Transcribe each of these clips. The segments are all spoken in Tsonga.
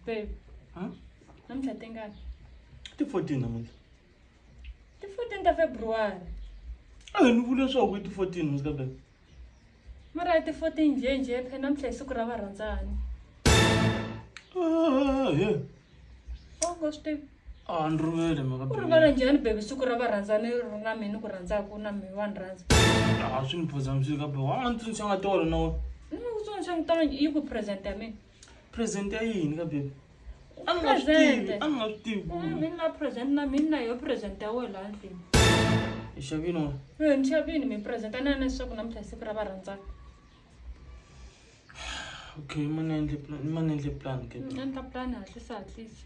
Babe, Huh? namuntlha tingani? Ti 14 namuntlha. Ti 14 ta February. A hi ni vule leswaku i ti 14 muzika babe. Mara i ti 14 njhe njhe phela namuntlha hi siku ra varhandzani. Ah, yeah. Oh, ngo swi tivi. Ah, ni rivele mhaka Ku rivala babe. njhani babe siku ra varhandzani ri ri na mina ku rhandzaka na mina wa ni rhandza. Ah, swi ni phoza muzika babe. Wa ni tsundzuxa nga tolo na wena. Ni nga ku tsundzuxa ngitolo yi ku present ya mina. present ya yini ka baby a ni nga swi tivi a ni nga swi tivi ku mi na present na mina na yo present ya wena laha ndlwini hi xavini wa Eh, ni xavini mi present a ni ane leswaku namuntlha hi siku ra va rhandzaka okay ma ni endle plan ma ni endle plan ke a ni ta plan hatlisa hatlisa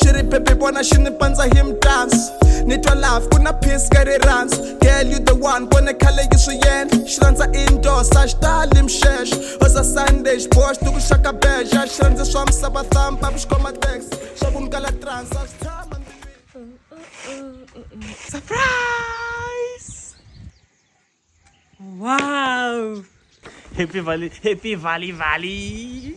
xi ri bebe vona xi ni pandza hi mtansi ni twa love ku na peace ka rirhandzu girl you the one vone khale yi swi yendla xi rhandza indoor sa xi tali mixexo oza sunday xibox ni ku xaka beja xi rhandza swa misava thampa ku xi khoma tax swa ku ni kala trans a swi tshama Surprise! Wow! Happy Valley, Happy Valley Valley!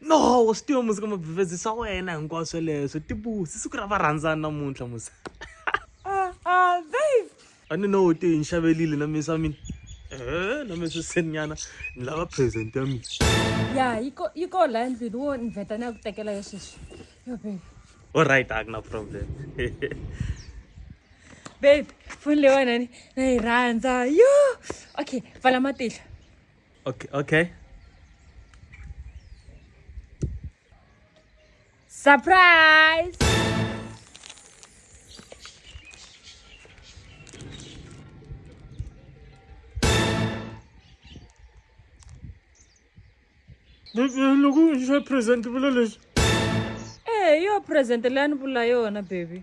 no wa swi tiva musi ka mabivhezi swa wena hinkwaswo sweleswo tibusi siku ra varhandzani namuntlha musi ah, ah, babe a ni no te hi ni xavelile na misa mina e na misa seninyana ni lava present ya mina ya yi ko yi ko la endlwini wo ni vheta ni ya ku tekela yo sweswi yo babe olright a ku na problem babe foni leyiwanani na yi rhandza yo okay pfala matihlo Okay, okay. Surprise! loko xa present vula leswi eyo present leyi a ni vula yona baby